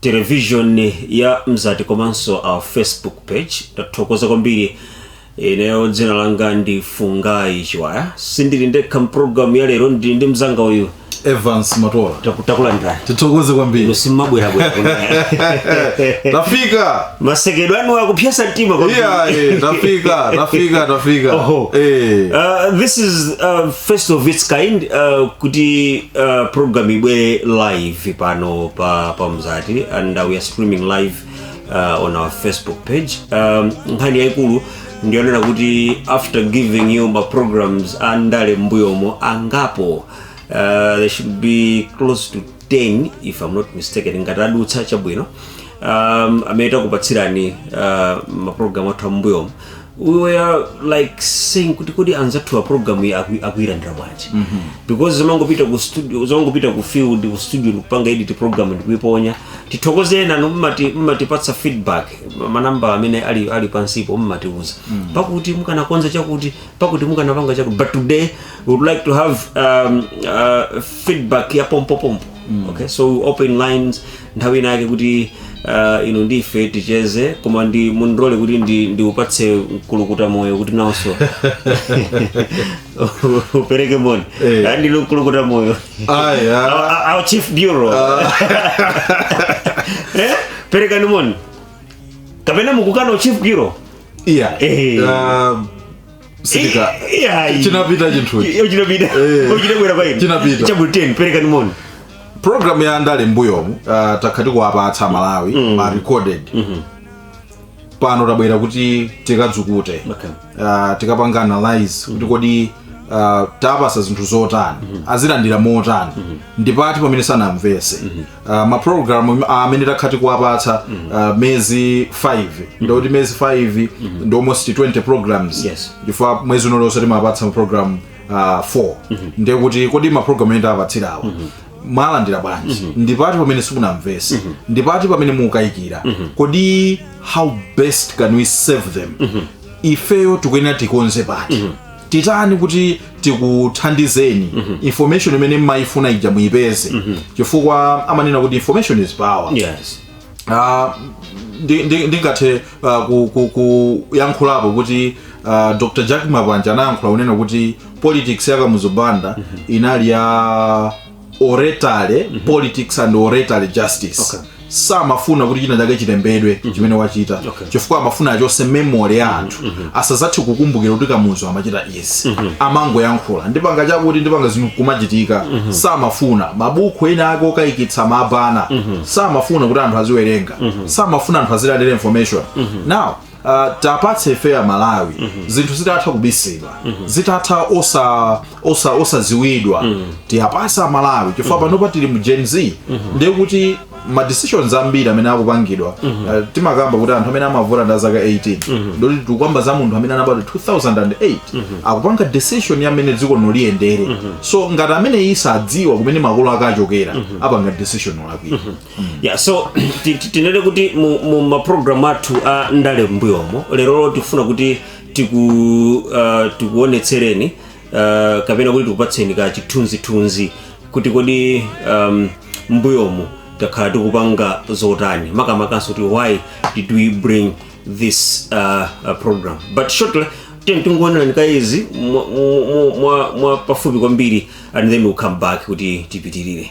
television ya mzati komanso our facebook page tathokoza kwambiri ineyo dzina langa ndi fungai chiwaya sindili ndekha mpulogalamu ya lero ndili ndi mzanga uyu evans matola Taku- takulandirani tithokoze kwambiri ino simabwerabwera kuno. tafika masekedwe anu akupsetsa mtima kwambiri. iya eh, tafika tafika tafika Oho. Eh. Uh, this is uh, first of its kind uh, kuti uh, program ibwere live ife pano pa pa mzati and uh, we are streaming live uh, on our facebook page um, nkhani yaikulu ndiyonena kuti after giving you ma programs a ndale m'mbuyomu angapo uh, there should be close to 10 if i'm not mistaken ngati adutsa chabwino um, amene takupatsirani uh, maprogramu athu am'mbuyomu we were like saying kuti kodi anzathu a program iyi aku- akuilandira bwanji because zimangopita ku studio zimangopita ku field ku studio ndikupanga edit program ndikuiponya tithokoze ena mmati mmatipatsa feedback manamba amene ali ali pansipo mmatiuza pakuti mukanakonza chakuti pakuti mukanapanga chakuti but today we would like to have um, uh, feedback ya pompopompo okay so we open lines nthawi inayake kuti uh, inu ndife ticheze koma ndi mundilole kuti ndi, ndiupatse mkulukuta moyo kuti nawonso upereke moni Eh. Ah, ndinu mkulukuta moyo Ayi, ah. Our- our- our chief bureau Eh, perekani moni kapena mukukana u chief bureau iya Eh. Ah, sitika Iyayi. chinapita chinthuchi Iyo chinapita Eh. Iyo chinabwera pa inu Chinapita. chapter 10 perekani moni programu ya ndale mbuyomu uh, takhala tikuwapatsa amalawi mm. ma recorded mm-hmm. pano tabwera kuti tikadzukute Okay. uh, tikapanga analyze kuti kodi uh, tawapatsa zinthu zotani azilandira motani ndipati pamene sanamvetse Uh, mapulogalamu amene uh, takhala tikuwapatsa uh, mezi 5 ndikuti mezi 5 ndi almost 20 programs Yes. chifukwa mwezi uliwonse timawapatsa mapulogalamu uh, 4 ndiye kuti kodi mapulogalamu amene tawapatsira awa mwawalandira bwanji ndipati pamene simunamvetse ndipati pamene mukukayikira kodi how best can we serve them ifeyo tikuyenera tikonze pati titani kuti tikuthandizeni information imene mmayifuna ija muyipeze chifukwa amanena kuti information is power yes Ah, ndi- ndi- ndingathe ah, ku- ku- kuyankhulapo kuti ah, dr jack mapanja anayankhula kunena kuti politics ya kamuzu banda inali ya oratory politics and oratory justice Okay. samafuna kuti china chake chilembedwe chimene wachita Okay. chifukwa amafuna achotse memory ya anthu asadzathe kukumbukira kuti kamuzu amachita izi amangoyankhula ndipanga chakuti ndipanga zinthu kumachitika samafuna mabuku ena ake okayikitsa amabana samafuna kuti anthu aziwerenga samafuna anthu azilandira information now Uh, tapatse ife a Malawi mm -hmm. zinthu zitatha kubisidwa mm -hmm. zitatha osa osa osaziwidwa mm -hmm. tiwapatse amalawi chifukwa mm -hmm. panopa tili mu gen z mm -hmm. ndiye kuti ma decisions ambiri amene akupangidwa mm -hmm. uh, timakamba kuti anthu amene amavota ndi a zaka 18 mm -hmm. nde kuti tikukamba za munthu amene anabadwa 2008 mm -hmm. akupanga decision ya mmene dziko lino liyendere mm -hmm. so ngati amene iye sadziwa kumene makolo ake achokera mm -hmm. apanga decision olakwika mm -hmm. ya so ti- ti- tinene kuti mu, mu maprogramu athu a ndale mbuyomo lerolo tikufuna kuti tiku uh, tikuonetsereni uh, kapena kuti tikupatseni ka chithunzithunzi kuti kodi um, mbuyomu takhala tikupanga zotani makamakanso kuti why did we bring this uh, uh, program but shortly tiyeni tingoonerani ka izi mwa, mwa, mwa, mwa pafupi kwambiri and then we'll come back kuti tipitirire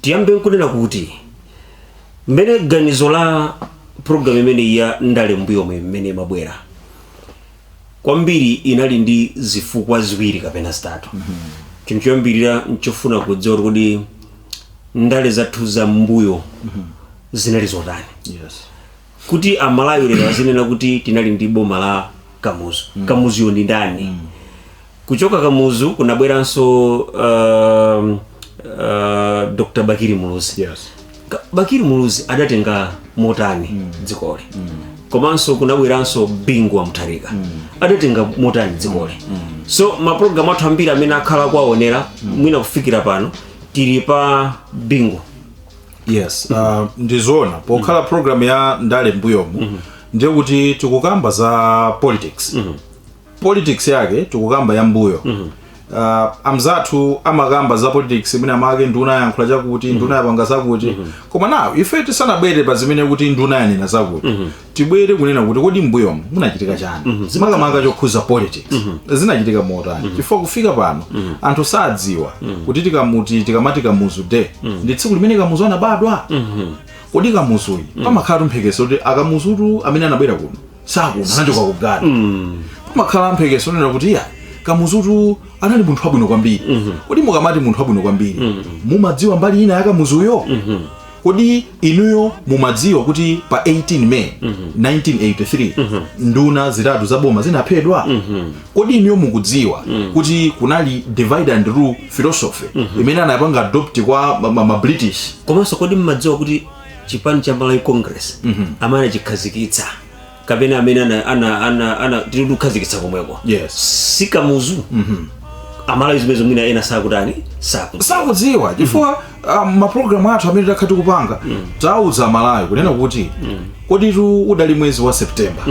tiyambe nkunena kuti mmene ganizo la programu imeneyi ya ndale mbuyomu mmene imabwera kwambiri inali ndi zifukwa ziwiri kapena zitatu chinthu choyambirira nchofuna kudziwa kuti kodi ndale zathu za mbuyo zinali zotani yes kuti amalawi lero azinena kuti tinali ndi boma la kamuzu mm. kamuzuyo ndi ndani mm. kuchoka kamuzu kunabweranso uh, uh, dr bakili muluzi yes. bakili muluzi adatenga motani mm. dzikoli mm. komanso kunabweranso bingu wa mutharika mm. adatenga motani dzikoli mm. mm. so mapulogalamu athu ambiri amene akhala akuwaonera mm. mwina kufikira pano tili pa bingu yes uh, ndizoona pokhala program ya ndale mbuyomu ndiye kuti tikukamba za politics politics yake tikukamba ya mbuyo uh, amzathu amakamba za politics imene amake nduna yankhula chakuti nduna yapanga zakuti koma now ife tisanabwere pa zimene kuti nduna yanena zakuti tibwere kunena kuti kodi mbuyomu munachitika chiyani mm -hmm. makamaka chokhuza politics mm -hmm. zinachitika motani mm -hmm. chifukwa kufika pano mm -hmm. anthu sadziwa mm -hmm. kuti tikamuti tikamati kamuzu day mm -hmm. ndi tsiku limene kamuzu anabadwa mm -hmm. kodi kamuzuyi mm -hmm. pamakhala timphekesera kuti akamuzutu amene anabwera kuno si akuno anachoka ku ghana mm -hmm. pamakhala mphekesera zonena kuti iya kamuzutu anali munthu wabwino kwambiri mm -hmm. kodi mukamati munthu wabwino kwambiri mm -hmm. mumadziwa mbali ina ya kamuzuyo mm -hmm. kodi inuyo mumadziwa kuti pa 18 may 1983 nduna zitatu za boma zinaphedwa kodi inuyo mukudziwa kuti kunali divide and rule philosophy imene anapanga adopt kwa ma- ma- ma british komanso kodi mmadziwa kuti chipani cha malawi congress amene anachikhazikitsa kapena amene ana, ana, ana, anachikhazikitsa komweko Yes. si kamuzu amalawi zimenezo mwina ena sakutani sakuti sakudziwa chifukwa um, mapulogalamu athu amene takhala tikupanga tauza amalawi kunena kuti koditu udali mwezi wa september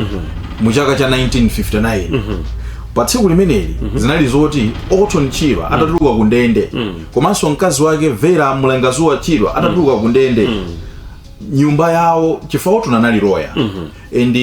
mu chaka cha 1959 pa tsiku limeneli zinali zoti orton chirwa atatuluka ku ndende komanso mkazi wake vera mlangazuwa chirwa atatuluka ku ndende nyumba yawo chifukwa orton anali loya mm -hmm. and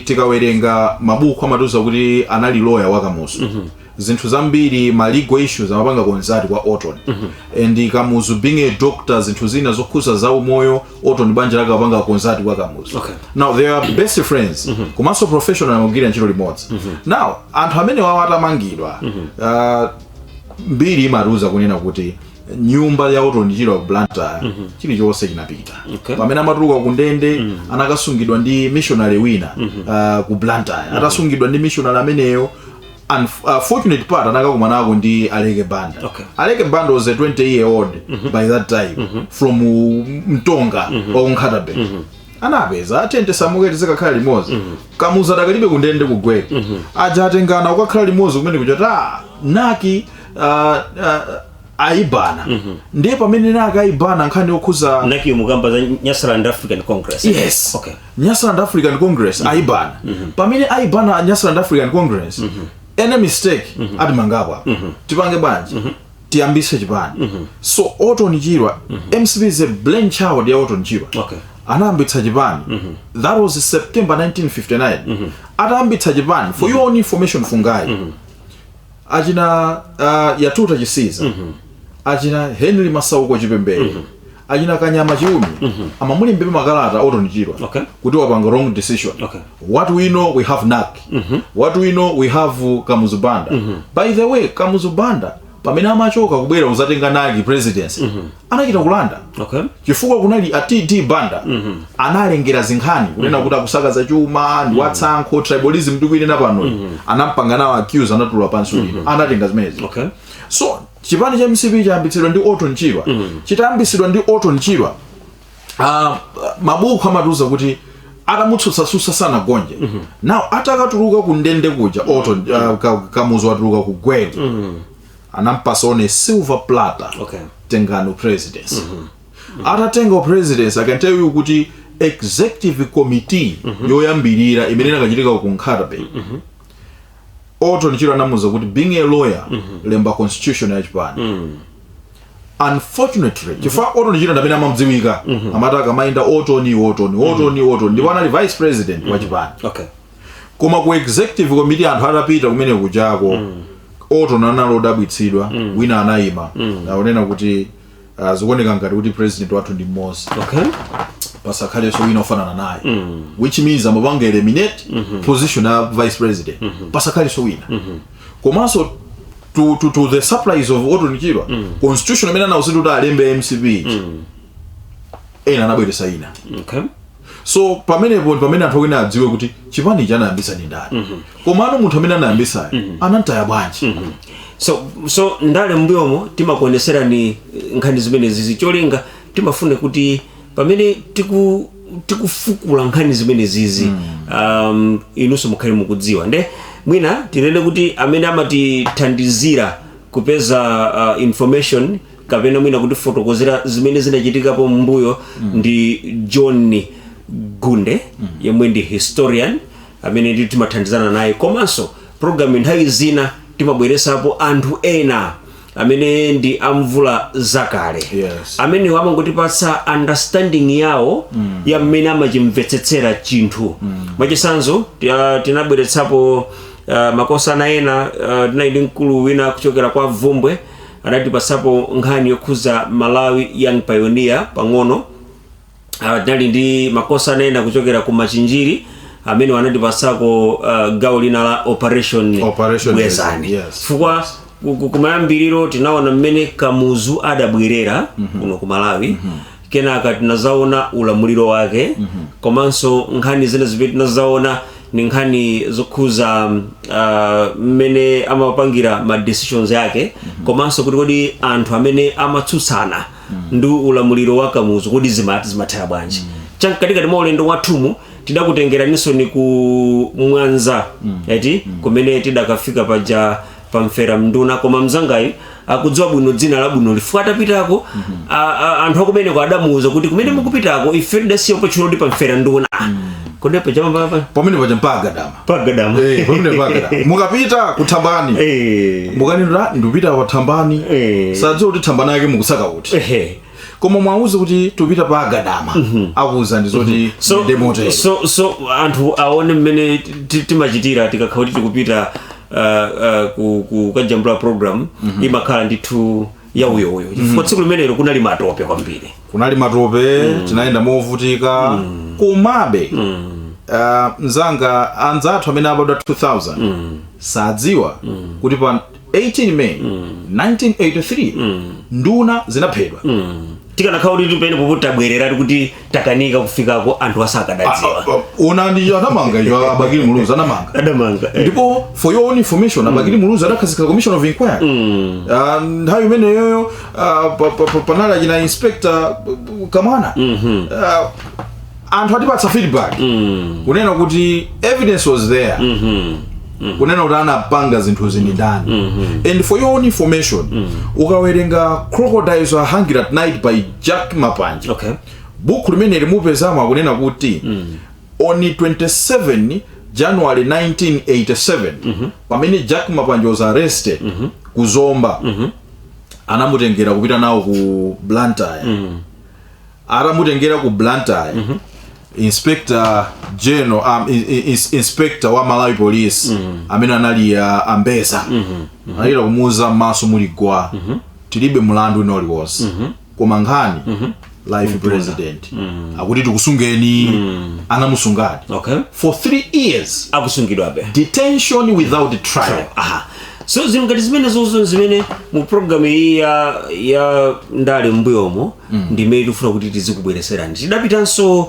tikawerenga mabuku amatiuza kuti anali loya wa kamuzu mm -hmm. zinthu zambiri ma legal issues amapanga consult kwa orton mm -hmm. ndi kamuzu being a doctor zinthu zina zokhuza za umoyo orton banja lake apanga consult kwa kamuzu okay. now they are best friends mm -hmm. komanso professional amagwira ntchito limodzi mm -hmm. now anthu amenewawo atamangidwa mm -hmm. uh, mbiri imatiuza kunena kuti nyumba ya orton chirwa ku blantyre mm -hmm. chilichonse chinapita okay. pamene amatuluka ku ndende mm -hmm. anakasungidwa ndi missionary wina mm -hmm. uh, ku blantyre mm -hmm. atasungidwa ndi missionary ameneyo unfortunate uh, part anakakumanako ndi aleke banda okay. aleke banda was a 20 year old mm -hmm. by that time mm -hmm. from mtonga mm -hmm. wa ku nkhata bay mm -hmm anapeza atende samuke tizikakhala limodzi mm -hmm. kamuzu adakalibe kundende ku gweru mm -hmm. aja atengana kukakhala limodzi kumene kuchota nac ah, ah, aibana ndiye pamene nac aibana nkhani yokhuza nac-yo mukukamba za nyasaland african congress yes okay nyasaland african congress aibana pamene aibana nyasaland african congress any mistake atimangapo apa tipange bwanji tiyambise chipani so orton chirwa mcp is a brainchild ya orton chirwa Okay. anayambitsa chipani that was september 1959 atayambitsa chipani for your own information fungayi achina uh, yatuta chisiza mm -hmm. achina henry masauko chipembere mm -hmm. achina kanyama chiumi mm -hmm. amamulimbira makalata otonichirwa okay. kuti wapanga wrong decision okay. what we know we have nak mm -hmm. what we know we have kamuzubanda mm -hmm. by the way kamuzubanda pamene amachoka kubwera uzatenga naki presidency mm -hmm. anachita kulanda okay. chifukwa kunali a td banda mm -hmm. analengera zinkhani mhm. kunena mm -hmm. kuti akusakaza chuma ndi mhm. watsankho mm -hmm. tribalism ndikuinena pano mm -hmm. anampanga nawo accuse anatula pansi mm -hmm. anatenga zimenezi okay. so chipani cha mcp chayambitsidwa ndi orton chirwa mm -hmm. chitayambitsidwa ndi orton chirwa uh, ah, mabuku amatiuza kuti atamutsutsatsutsa sanagonje mm -hmm. now atakatuluka kundende kuja orton uh, kamuzu watuluka ku gweru mm -hmm. anampasa on a silver platter Okay. tengani upresidency atatenga upresidency i can tell you kuti executive committee yoyambirira imene inakachitika ku nkhatabay oto nichiro anamuuza kuti being a lawyer lemba constitution ya chipani unfortunately chifukwa Orton Chirwa ndamene amamdziwika amati akamayenda Orton Orton Orton Orton ndipo anali vice president wa chipani okay koma ku executive committee anthu atapita kumene kujako mm. Orton anali odabwitsidwa mm. wina anayima mm. akunena kuti uh, zikuoneka ngati kuti president wathu ndi mmodzi okay. pasakhalenso wina ofanana naye mm. which means amapanga eliminate mm -hmm. position ya vice president mm -hmm. pasakhalenso wina mm -hmm. komanso to, to, to the surprise of Orton Chirwa mm. constitution amene anawuzidwa kuti alembe MCP mm. ena anabweresa ina okay. so pamenepo ndi pamene anthu akuyenera adziwe kuti chipani ichi anayambisa ndi ndani komano munthu amene anayambisayo anamtaya bwanji so so ndale mbuyomo timakuoneserani eh, nkhani zimenezizi cholinga timafuna kuti pamene tiku tikufukula nkhani zimenezizi mm. um, inunso mukhale mukudziwa nde mwina tinene kuti amene amatithandizira kupeza uh, information kapena mwina kutifotokozera zimene zinachitikapo m'mbuyo ndi john gunde yemwe ndi historian amene ndi timathandizana naye komanso programu nthawi zina timabweresapo anthu ena amene ndi amvulazakale Yes. amene amangotipatsa understanding yawo mm. ya mmene amachimvetsetsera chinthu mm. mwachisanzo tia- tinabweretsapo uh, makosana ena uh, tinali ndi mkulu wina kuchokera kwa vumbwe Anatipatsapo nkhani yokhudza Malawi Young Pioneer pang'ono. Ah, tinali ndi makosana ena kuchokera ku Machinjiri amene anatipatsako ah, gawo lina la operation Operation bwezani Bwezani, yes. chifukwa ku- ku- kumayambiriro tinaona mmene kamuzu adabwerera kuno ku malawi kenaka tinazaona ulamuliro wake komanso nkhani zina zimene tinazaona ni nkhani zokhuza mmene uh, amapangira ma decisions yake komanso kuti kodi anthu amene amatsutsana ndi ulamuliro wa kamuzu kodi zima- zimathera bwanji chamkatikati mwa ulendo wathumu tidakutengeraninsoni ku mwanza eti kumene tidakafika paja pamfera nduna koma mzangayu akudziwa bwino dzina labwino chifukwa atapitako a- a- anthu akumeneko adamuuza kuti kumene mukupitako ife tidasiya opatchula kuti pamfera nduna kodi paja pa pa pa pamene paja mpagadama pagadama Eh, pamene mpagadama mukapita kuthambani Eh. mukanena ndikupita pathambani Eh. sadziwa kuti thambani yake mukusaka kuti Ehe. koma mwauze kuti tipita pa agadama akuuza ndi zoti so, ndi motero so, so anthu aone mmene ti- ti- timachitira tikakhala kuti tikupita uh, uh, ku- ku- kukajambula program imakhala ndithu yauyoyo chifukwa tsiku limenelo kunali matope kwambiri kunali matope tinayenda movutika komabe ah, mzanga anzathu amene abadwa 2000 sadziwa kuti pa 18 May 1983, nduna zinaphedwa. tikanakhala kuti pena pake tabwereratu kuti takanika kufikako anthu asakadadziwa Zoona ndi anamanga icho Abakili Muluzi anamanga. adamanga eh. ndipo for your own information abakili muluzi adakhazikitsa commission of inquiry Ah, nthawi imeneyoyo ah, pa- pa- pa- panali achina inspector uh, kamwana Ah, anthu adatipatsa feedback kunena kuti evidence was there kunena kuti anapanga zinthu izi ndi ndani and for your own information ukawerenga crocodiles are hungry at night by jack mapanje okay buku limene limapezamo akunena kuti on 27 january 1987 pamene jack mapanje was arrested ku zomba anamutengera kupita nawo ku blantyre atamutengera ku blantyre mm -hmm. inspector general um, in, in, inspector wa malawi police mm -hmm. amene anali uh, a mbedza mm -hmm. anachita kumuuza m'maso muli gwa mm -hmm. tilibe mlandu wina uliwonse mm -hmm. koma nkhani mm -hmm life mm -hmm. president mm -hmm. akuti tikusungeni mm -hmm. anamusunga okay. for three years akusungidwabe detention without mm -hmm. trial, trial. Aha so zinthu ngati zimene zozo zimene mu programu iyi ya ya ndale m'mbuyomo ndimene tikufuna kuti tizikubwereserani tidapitanso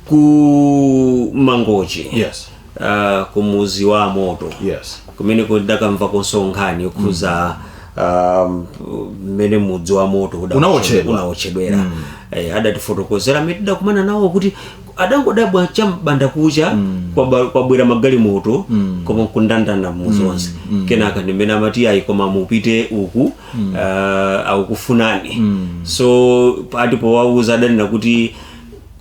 ku mangochi Yes. uh, ku mudzi wa moto Yes. kumene tidakamvakonso nkhani yokhuza um, mmene mudzi wa moto uda- Unaotchedwa. unaotchedwera eh, adatifotokozera amene tidakumana nawo kuti adangodabwa cha m'bandakucha kwaba- kwabwera magalimoto koma kundanda mudzi wonse kenaka ndimene amati ayi koma mupite uku mm. uh, akukufunani mm. so popowauza adanena kuti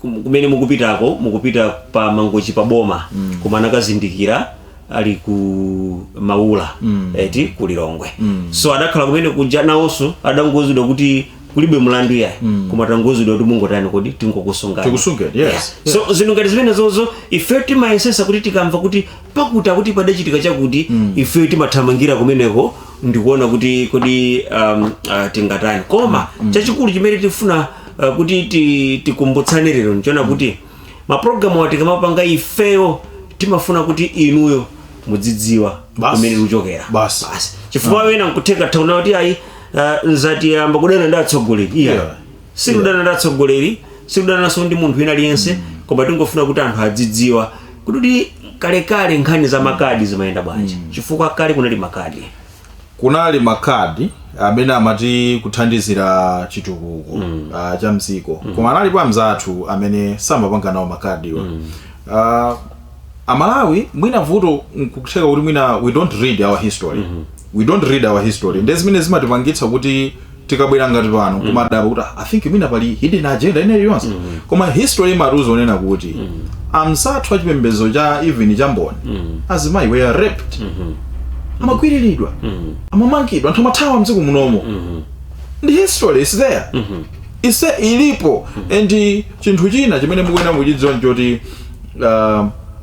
kum- kumene mukupitako mukupita pa mangochi pa boma mm. koma anakazindikira ali ku maula mm. eti ku lilongwe mm. so adakhala kumene kuja nawonso adangouzidwa kuti kulibe mlandu yayi mm. koma tangouzidwa kuti mungotani kodi tingokusungani Tikusunge, yes, so zinthu ngati zimene zozo ife timayesetsa kuti tikamva kuti pakuti akuti padachitika chakuti mm. ifeyo timathamangira kumeneko ndikuona kuti kodi um, uh, tingatani koma mm. chachikulu chimene tifuna uh, kuti ti- tikumbutsane lero n'chonena kuti mapulogalamu awa tikamapanga ifeyo timafuna kuti inuyo mudzidziwa Basi. kumene tikuchokera Basi. chifukwa ena nkutheka atawona kuti ayi uh, mzati wayamba kudana ndi atsogoleri iya Yeah. sikudana ndi atsogoleri sikudananso ndi munthu wina aliyense koma tingofuna kuti anthu adzidziwa kuti kalekale nkhani za makadi zimayenda bwanji chifukwa kale kunali makadi kunali makadi amene amati akuthandizira chitukuko mm. uh, cha mdziko mm. koma analipo amzathu amene samapanga nawo makadiwa mm. uh, amalawi mwina vuto nkutheka kuti mwina we don't read our history mm -hmm. we don't read our history nde zimene zimatipangitsa kuti tikabwera ngati pano kumadabwa kuti i think mwina pali hidden agenda ina iliyonse koma history imatiuza zonena kuti amzathu a chipembedzo cha even cha mboni azimayi were raped amagwiriridwa amamangidwa anthu amathawa mdziko munomo ndi history is there ise ilipo and chinthu china chimene mukuyenera kuchidziwa nchoti uh,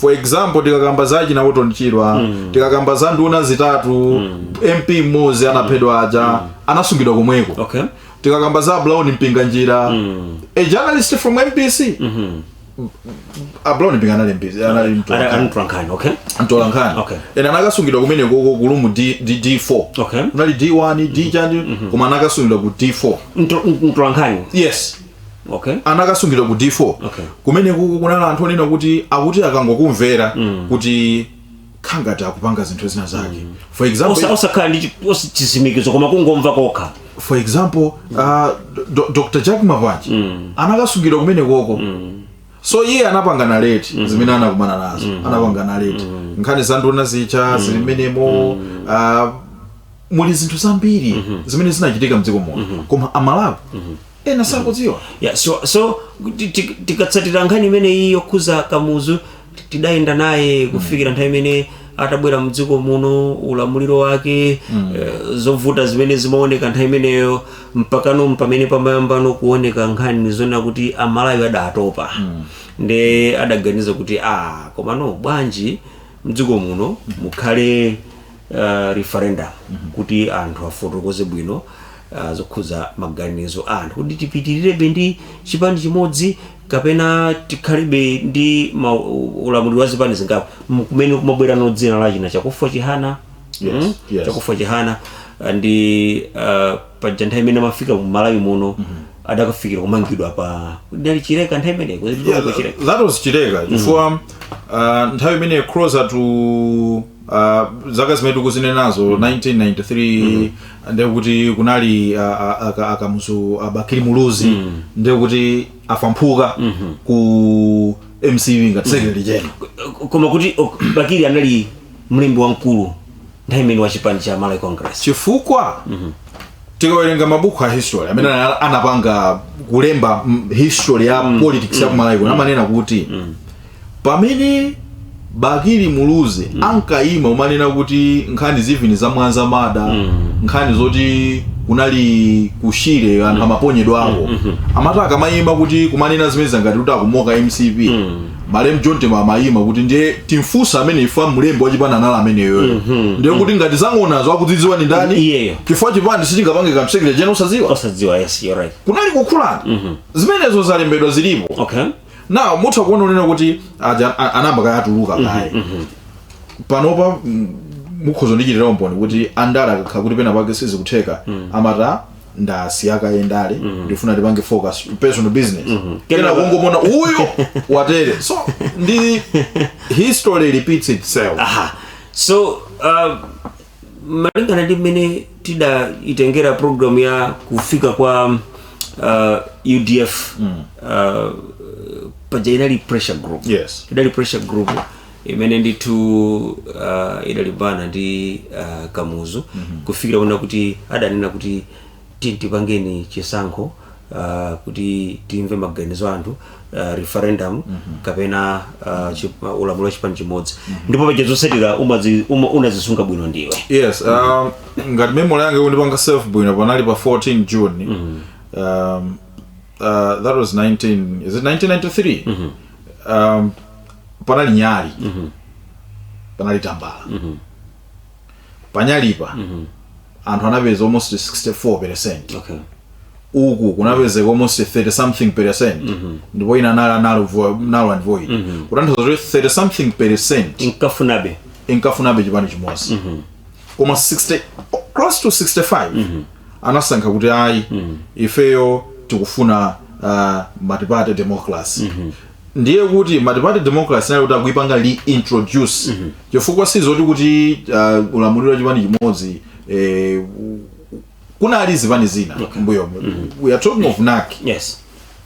for example tikakamba za achina Orton Chirwa tikakamba za nduna zitatu mp mmodzi anaphedwa aja anasungidwa komweko okay tikakamba za Brown Mpinganjira a journalist from MBC a Brown Mpinga anali MBC anali mtu Ana- anatolankhani okay mtola nkhani Okay. ena anakasungidwa kumenekoko kulumu D, D, D4 Okay. unali D1 D chani koma anakasungidwa ku D4 Mto- mtolankhani yes okay. anakasungidwa ku d4 okay. kumenekoko kunali anthu onena kuti akuti akangokumvera mm. kuti nkhani ngati akupanga zinthu zina zake mm. for example osakhala ndi chitsimikizo koma kungomva kokha for example mm. uh, do, dr jack mapanje mm. anakasungidwa kumenekoko mm so iye anapanga narrate mm -hmm. zimene anakumana nazo mm -hmm. anapanga narrate mm -hmm. nkhani za nduna zija mm -hmm. zili mmenemo mm -hmm. uh, muli zinthu zambiri mm -hmm. zimene zinachitika mdziko muno mm -hmm. koma amalawi mm -hmm ena sakuzidziwa yeah, so, so ti- ti- tikatsatira nkhani imene iyi yokhuza kamuzu ti- tidayenda naye kufikira nthawi imene atabwera mdziko muno ulamuliro wake eh, zovuta zimene zimaoneka nthawi imeneyo mpakana pamene pamayambano kuoneka nkhani zonena kuti amalawi adatopa nde adaganiza kuti a komano bwanji mdziko muno mukhale uh, referendum mm -hmm. kuti anthu afotokoze bwino uh, zokhudza maganizo a anthu kuti tipitirirebe ndi chipani chimodzi kapena tikhalibe ndi ulamuliro wa zipani zingapo kumene kumabwerano dzina la achina chakufwa chihana yes, mm? yes. chakufwa chihana uh, ndi uh, paja nthawi imene amafika mu malawi muno mm -hmm. adakafikira kumangidwa pa ndali chileka nthawi imeneyo yeah, that was chileka chifukwa mm -hmm. uh, nthawi imeneyo closer to Uh, zaka zimene tikuzinenazo mm. 1993 mm. ndekuti kunali uh, uh, akamuzu uh, bakili muluzi mm. ndekuti afamphuka mm -hmm. ku mcp ngati secretary general koma kuti ok, bakili anali mlembi wamkulu nthawi imene wa chipani cha malawi congress chifukwa mm -hmm. tikawerenga mabuku a history amene mm. anapanga kulemba history ya mm. politics ya mm. malawi mm. amanena kuti mm. Pamene Bakili Muluzi mm. ankaima kumanena kuti nkhani zivini za Mwanza murder mm. nkhani zoti kunali kushire anthu mm. amaponyedwawo mm -hmm. amati akamaima kuti kumanena zimene zangati kuti akumoka mcp mm. malem john tembo amaima kuti ndiye timfunse ameneyo chifukwa mlembi wachipani anali ameneyo mm -hmm. ndiye kuti mm. ngati za ng'onazo akuzidziwa ndi ndani yeah. chifukwa chipani sichingapange kanthu secretary general osadziwa osadziwa yes you're right kunali kukhulana mm -hmm. zimenezo zalembedwa zilipo okay. now mutha kuona kunena kuti aja a- anayamba kaye atuluka kaye panopa mm, mukhoza kundichitira umboni kuti andale akakhala kuti pena pake sizikutheka amati ndasiya kaye ndale ndifuna ndipange focus personal business kena Kenako- kungomuona uyo watere so ndi history repeats itself aha so uh, malingana ndi mmene tidaitengera programu ya kufika kwa uh, udf mm. uh, paja inali pressure group yes idali pressure group imene ndithu uh, idalimbana ndi uh, kamuzu mm -hmm. kufikira kunena kuti adanena kuti tipangeni chisankho uh, kuti timve maganizo a anthu uh, referendum mm -hmm. kapena uh, chip, uh, ulamuliro wa chipani chimodzi mm -hmm. ndipo paja zotsatira umazi- uma- unazisunga bwino ndiwe yes um, ngati memory yanga ikundipanga serve bwino panali pa 14 june um, uh, that was 19 is it 1993 um, panali nyali panali tambala panyalipa anthu anapeza almost 64 percent okay uku kunapezeka almost 30 something percent ndipo ina anali anali vo- null and void kutanthauza kuti 30 something percent inkafunabe inkafunabe chipani chimodzi koma 60 close to 65 anasankha kuti ayi ifeyo tikufuna uh, multiparty democracy ndiye kuti multiparty democracy inali kuti akuipanga reintroduce mm -hmm. chifukwa sizoti kuti uh, ulamuliro wa chipani chimodzi eh, kunali zipani zina okay. m'mbuyo mm -hmm. we are talking of NAC yes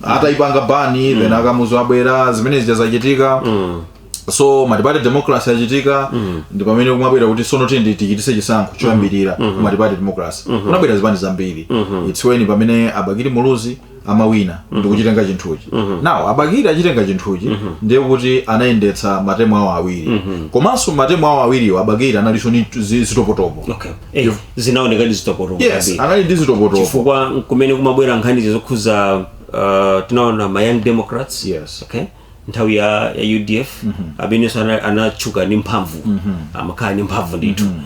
ataipanga ban mm. then akamuzu abwera zimene zija zachitika mm. so multiparty democracy yachitika mm. ndi pamene kumabwera kuti sono tiyeni tichitise chisankho choyambirira mm -hmm. multiparty democracy mm -hmm. kunabwera zipani zambiri mm -hmm. it's when pamene abakiri muluzi amawina ndikuchitenga chinthuchi now abakiri achitenga chinthuchi ndiye kuti anayendetsa matemu awo awiri komanso matemu awo awiriwo abakiri analinso ndi zi- zitopotopo okay eh, zinaoneka ndi zitopotopo yes kwambiri. anali ndi zitopotopo chifukwa kumene kumabwera nkhani zokhuza uh, tinaona ma young democrats Yes. okay nthawi ya, ya udf mm -hmm. amenenso anatchuka ndi mphamvu mm -hmm. amakhala ndi mphamvu ndithu mm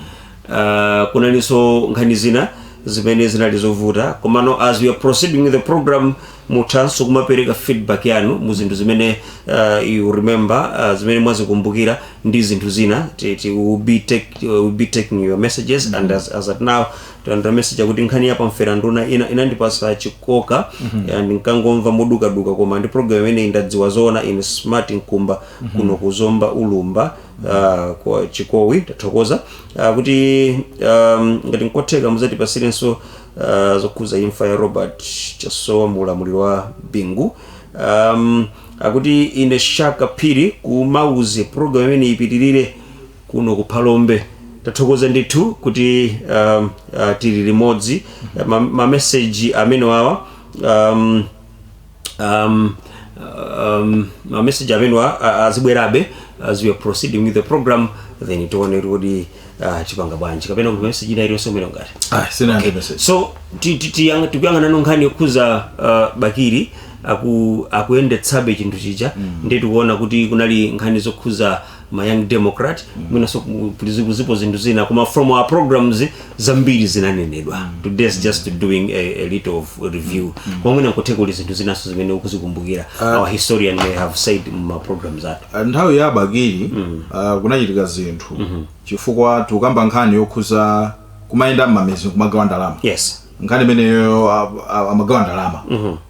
-hmm. uh, kunalinso nkhani zina zimene zinali zovuta komano as we are proceeding with the program muthanso kumapereka feedback yanu mu zinthu zimene uh, you remember uh, zimene mwazikumbukira ndi zinthu zina ti, ti, we'll be take, we'll be taking your messages mm -hmm. and as, as at now talandira message akuti nkhani ya pamferanduna inandipasa chikoka ndinkangomva modukaduka koma ndi program imeneyi ndadziwa zoona ine smart nkumba kuno kuzomba ulumba ah, kwa chikowi tathokoza Ah, kuti um, ngati nkotheka muzatipasirenso uh, zokhuza imfa ya robert chasowa mu ulamuliro wa bingu um, akuti ine shaka phiri kumauzi program imene ipitirire kuno ku phalombe tathokoza ndithu kuti um, uh, tili limodzi Ma- mameseji amenewawa um, um, um, mameseji amenewa a- azibwerabe as we are proceeding with the program then tione kuti uh, tipanga bwanji kapena kuti meseji ina iliyonse umene ngati ah sina okay. message so ti- ti- tiyang- tikuyang'ana no nkhani yokhuza uh, bakiri aku, akuyendetsabe chinthu chija mm. ndi tikuona kuti kunali nkhani zokhuza ma young democrat mwinaso ku- ku- zipo zipo zinthu zina koma from our programs zambiri zinanenedwa today is just doing a, a little of review koma mwina nkotheka kuti zinthu zinaso zimene ukuzikumbukira our historian may have said mma programs athu Ah, nthawi ya abakili ah, kunachitika zinthu chifukwa tikukamba nkhani yokhuza kumayenda mmamidzi kumagawa ndalama yes nkhani imeneyo ah, ah, amagawa ndalama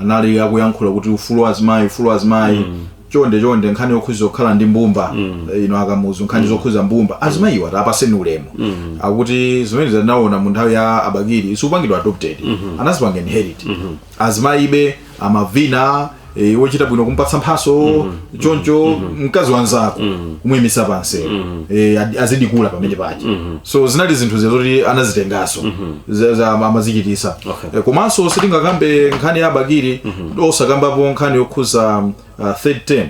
anali akuyankhula kuti ufulu wa azimayi ufulu wa azimayi mm. chonde chonde nkhani yokhuza kukhala ndi mbumba mm. Eh, ino akamuzu nkhani mm. zokhuza mbumba mm. azimayiwa tapaseni ulemu mm. akuti zimene tinaona mu nthawi ya abakiri sikupangidwa adopted mm -hmm. anazipanga inherit mm -hmm. azimayibe amavina e, eh, wochita bwino kumpatsa mphatso mm -hmm. choncho mm -hmm. mkazi wanzako mm -hmm. kumuyimisa pansi mm -hmm. e, eh, azidikula pamene pache mm -hmm. so zinali zinthu zoti anazitengaso mm -hmm. amazichitisa okay. Eh, komanso sitingakambe nkhani ya bakiri osakambapo nkhani yokhuza um, uh, third term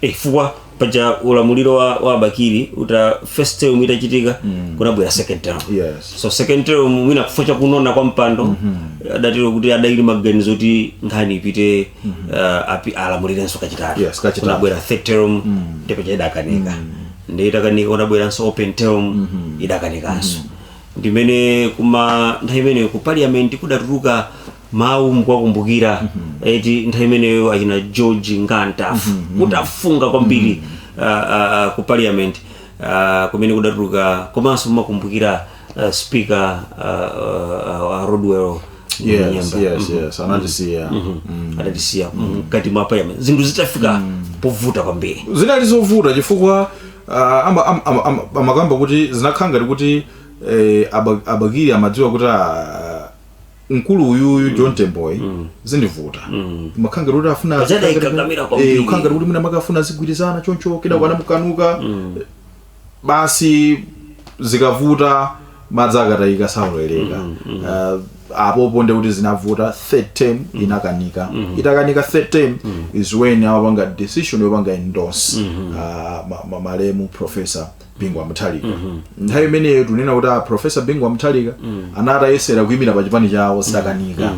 Eh, chifukwa paja ulamuliro wa, wa bakiri uta first term itachitika kunabwera second term Yes. so second term mwina chifukwa chakunona kwa mpando adatero kuti adali maganizo kuti nkhani ipite uh, api- alamulirenso kachitatu Yes, kachitatu. kunabwera third term ndipo cha idakanika ndi itakanika kunabweranso open term idakanikanso ndimene kuma nthawi imeneyo ku parliament kudatuluka mawu mukuwakumbukira eti nthawi imeneyo achina George Nga Mtafu kutafunga kwambiri ah, ah, ah, ku parliament ah, kumene kudatuluka komanso mumawakumbukira ah, speaker ah, ah, ah, rodwell yes Munyenyembe. yes yes anatisiya adatisiya mkati mwa parliament zinthu zitafika povuta kwambiri zinali zovuta chifukwa Ah, ama- ama- ama- ama- amakamba kuti zinakhala ngati kuti eh, Aba- aBakili amadziwa kuti ah, mkulu uyuyu John Temboyu zindivuta amakhala ngati kuti afuna Ajada azikhala ngati- ikakamira kwambiri. eh, kukhala ngati kuti mwina amakafuna azigwirizana choncho kenako anamukanika basi zikavuta madzi akatayika saoleka Ah, apopo nde kuti zinavuta third term inakanika itakanika third term is when amapanga decision yopanga endorse ah, ma- ma- malemu professor bingwa muthalika nthawi imeneyo tunena kuti a professor bingwa muthalika anatayesera kuyimira pa chipani chawo sadakanika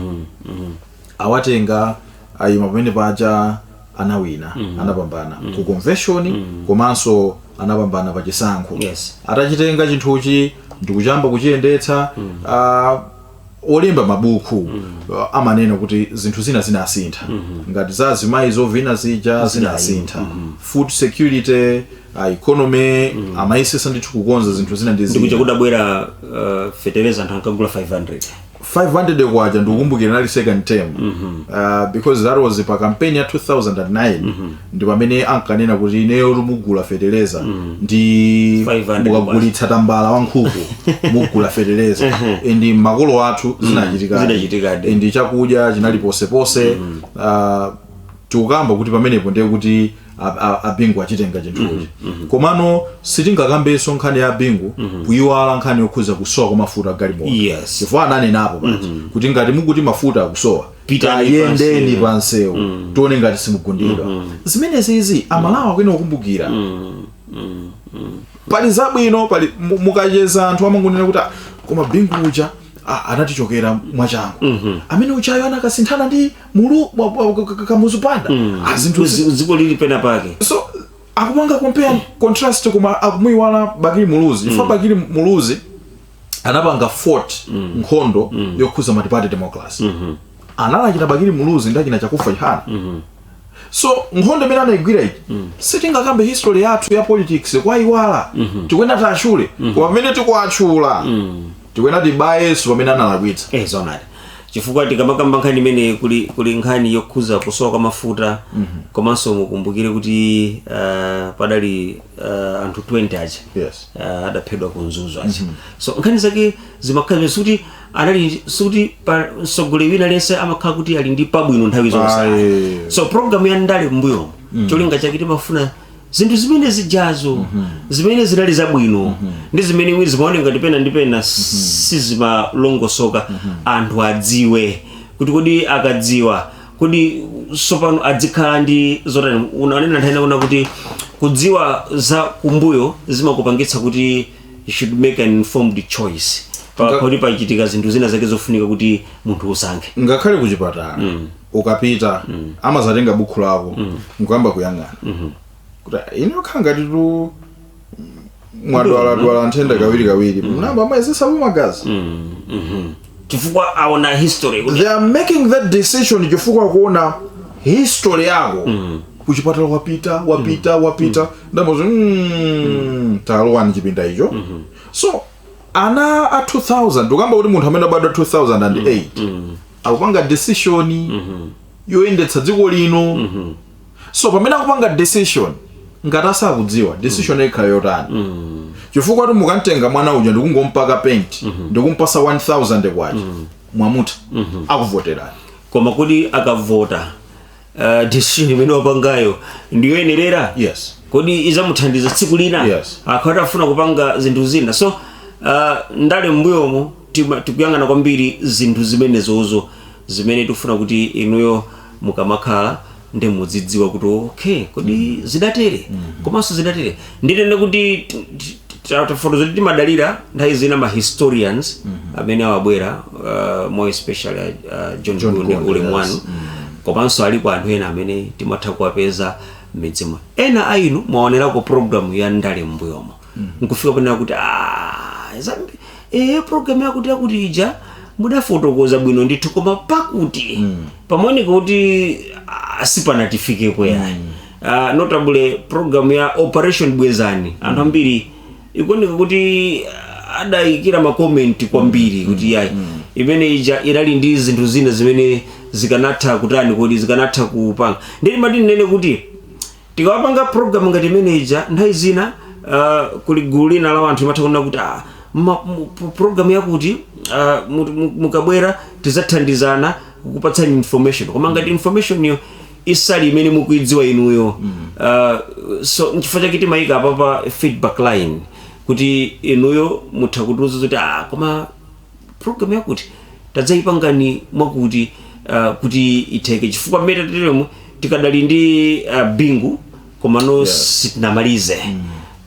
awatenga ayima pamene paja anawina anapambana ku convention komanso anapambana pa chisankho Yes. atachitenga chinthuchi ndikuyamba kuchiyendetsa ah, olemba mabuku ah, amanena kuti zinthu zina zinasintha ngati za azimayi zovina zija zinasintha food security ah, economy amayesetsa ndithu kukonza zinthu zina ndi ndikuja zina kudabwera uh, feteleza anthu ankagula 500 500 kwacha ndikukumbukira nali second term uh, because that was pa campaign ya 2009 ndi pamene ankanena kuti ineyo mugula feteleza ndi 500 mukagulitsa tambala wa nkhuku mugula feteleza and makolo athu zinachitikadi zinachitikadi. and chakudya chinali ponseponse uh, tikukamba kuti pamenepo ndiye kuti a- a- a bingu achitenga chinthuchi komano sitingakambenso nkhani ya bingu kuyiwala nkhani yokhuza kusowa kwa mafuta a galimoto Yes. chifukwa ananenapo paja kuti ngati mukuti mafuta akusowa Pitani tayendeni pansewu. pansewu tione ngati simugundidwa zimenezi izi aMalawi akuyenera kukumbukira pali zabwino pali mu- mukacheza anthu amangonena kuti "Ah, koma bingu uja ah, anatichokera mwachangu amene ujayo anakasinthana ndi mulu wa- wa- ka- ka- Kamuzu Banda Ah, zinthu zi- Dzi- dziko lili pena pake so akupanga compare contrast koma akumuiwala bakili muluzi chifukwa bakili muluzi anapanga fought nkhondo yokhuza multiparty democracy anali achina bakili muluzi ndi achina Chakufwa Chihana so nkhondo imene anaigwira ija sitingakambe history yathu ya politics kuwaiwala tikuyenera tiwatchule koma pamene tikuwatchula tikunena tibayeso pamene analakwitsa eh zoonadi chifukwa tikamakamba nkhani imeneyi kuli kuli nkhani yokhuza kusowa kwa mafuta komanso mukumbukire kuti uh, padali uh, anthu 20 aja Yes. uh, adaphedwa ku mzuzu aja so nkhani zake zimakhala zimene sikuti anali sikuti pa mtsogoleri wina aliyense amakhala kuti ali ndi pabwino nthawi zonse Ayi. so program ya ndale m'mbuyomo cholinga chake timafuna zinthu zimene zijazo zimene zinali zabwino ndi zimene mwina zimaoneka ngati pena ndi pena sizimalongosoka anthu adziwe kuti kodi akadziwa kodi sopano adzikhala ndi zotani unanena nthawi ina kuti kudziwa za kumbuyo zimakupangitsa kuti you should make an informed choice pa Nga- kuti pachitika zinthu zina zake zofunika kuti munthu usankhe ngakhale ku chipatala ukapita amazatenga bukhu lako nkuyamba kuyang'ana kuti "Ah, ine ukakhala ngati kuti mwadwaladwala matenda kawiri kawiri amayamba amayezetsa magazi chifukwa aona history kuti they are making that decision chifukwa kuona history yako kuchipatala wapita wapita wapita ndi zomwezo mm, talowani chipinda icho so ana a 2000 tikukamba kuti munthu amene abadwa 2008 akupanga decision yoyendetsa dziko lino so pamene akupanga decision ngati asakudziwa decision yo ikhala yotani chifukwa choti mukamtenga mwana uja ndikungompaka paint ndikumpasa 1000 kwacha mwamutha akuvoterani koma kuti akavota uh, decision imene wapangayo ndiyoyenerera yes kodi izamuthandiza tsiku lina Yes. akakhala atafuna kupanga zinthu zina so uh, ndale m'mbuyomo tima- tikuyang'ana kwambiri zinthu zimenezozo zimene tifuna kuti inuyo mukamakhala ndi mudzidziwa kuti okay kodi zidatere komanso zidatere ndinene kuti tafotokoza kuti timadalira nthawi zina ma historians mm -hmm. amene amabwera uh, more especially uh, john, john gunde ulemu wanu mm -hmm. komanso alipo anthu ena amene timatha kuwapeza m'midzimo ena a inu mwaonerako programu ya ndale m'mbuyomo mm -hmm. nkufika ponena kuti e, programu yakuti yakuti ija mudafotokoza bwino ndithu koma pakuti mm -hmm. pamaoneka kuti sipanatifikeko ayi mm -hmm uh, notably program ya operation bwezani anthu ambiri ikuoneka kuti ah, adayikira makomenti kwambiri kuti yayi imene ija inali ndi zinthu zina zimene zikanatha kutani kodi zikanatha kupanga ndiye mwati ndinene kuti tikamapanga program ngati imene ija nthawi zina uh, kuli gulu lina la anthu limatha kunena kuti ah, ma- mu- pro- program yakuti ah, mu- mu- mukabwera tizathandizana kukupatsani information koma ngati information yo isali imene mukuidziwa inuyo uh, so nchifukwa chake timayika apa pa feedback line kuti inuyo mutha kutiuza zoti ah, koma program yakuti tadzayipangani mwakuti uh, kuti itheke chifukwa mmene tateremu tikadali ndi uh, bingu komano Yes. sitinamalize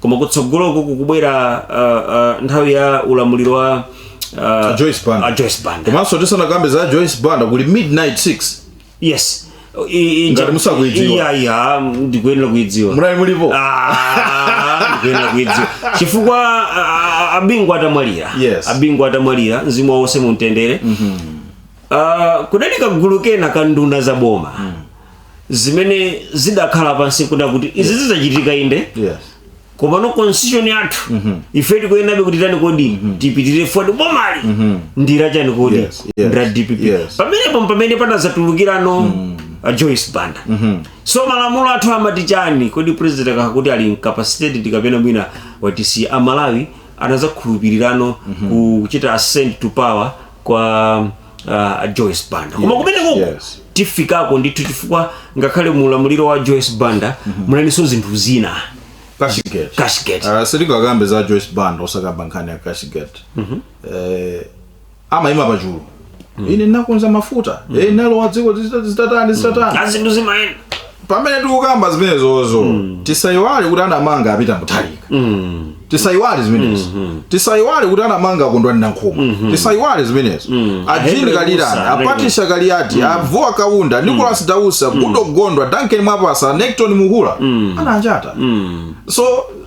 koma kutsogoloko kukubwera uh, uh, nthawi ya ulamuliro wa uh, Joyce Banda. a Joyce Banda. komanso tisanakambe za joyce banda kuli midnight 6 yes I- i- i- Ngati musakuidziwa. iya iya ndikuyenera kuidziwa munali mulipo Ah, ndikuyenera kuidziwa chifukwa a- a- a Bingu atamwalira Yes. a Bingu atamwalira mzimu wawo uuse mumtendere Ah, kudali kagulu kena ka nduna za boma zimene zidakhala pansi kuda kuti izi zidzachitika inde yes komano constitution yathu ife tikuyenabe kuti tani kodi tipitirire forward bomali ndi la chani kodi Yes, yes, ndi la DPP yes. pamenepo pamene panazatulukirano a joyce banda so malamulo athu amati chani kodi president akakhala kuti ali incapacitated kapena mwina watisiya amalawi anazakhulupirirano kuchita ascend to power kwa uh, a Joyce Banda koma kumeneko yes. tifikako ndithu chifukwa ngakhale mu ulamuliro wa Joyce Banda munalinso zinthu zina Cashgate. Cashgate. Uh, sitingakambe za Joyce Banda osakamba nkhani ya Cashgate. Eh, amayima pachulu. Ine nakonza mafuta. Eh, nalowa dziko zita- zitatani zitatani. ah zinthu zimayenda pamene tikukamba zimenezozo tisayiwale kuti anamanga a Peter Mutharika Mm. tisayiwale zimenezo tisayiwale kuti anamanga Kondwani Nankhumwa tisayiwale zimenezo a Jean a Henry Kalilani Mussa, a Patricia Kaliati a Vuwa Kaunda Nicholas Dausi Goodall Gondwe duncan mwapasa necton Mhura ananjata Mm. so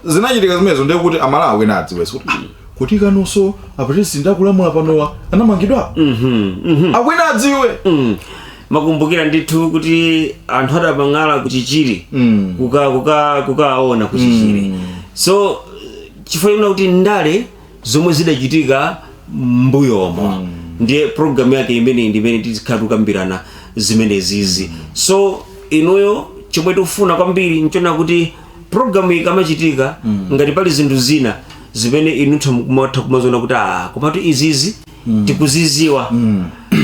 zinachitika zimenezo ndiye kuti amalawi ena adziwe kuti ah, kuti kaninso apresident akulamula panowa anamangidwa Mhm. Mhm. akwena adziwe Mm. makumbukira ndithu kuti anthu adapang'ala kuchichiri Mm. kuka kuka kukaona kuchichiri so chifukwa chonena kuti ndale zomwe zidachitika mbuyomo ndiye programu yake imeneyi ndi imene tikhala tikukambirana zimenezizi so inuyo chomwe tikufuna kwambiri nchona kuti programu ikamachitika ngati pali zinthu zina zimene inutha mukumatha kumaziona kuti ah komatu izizi tikuziziwa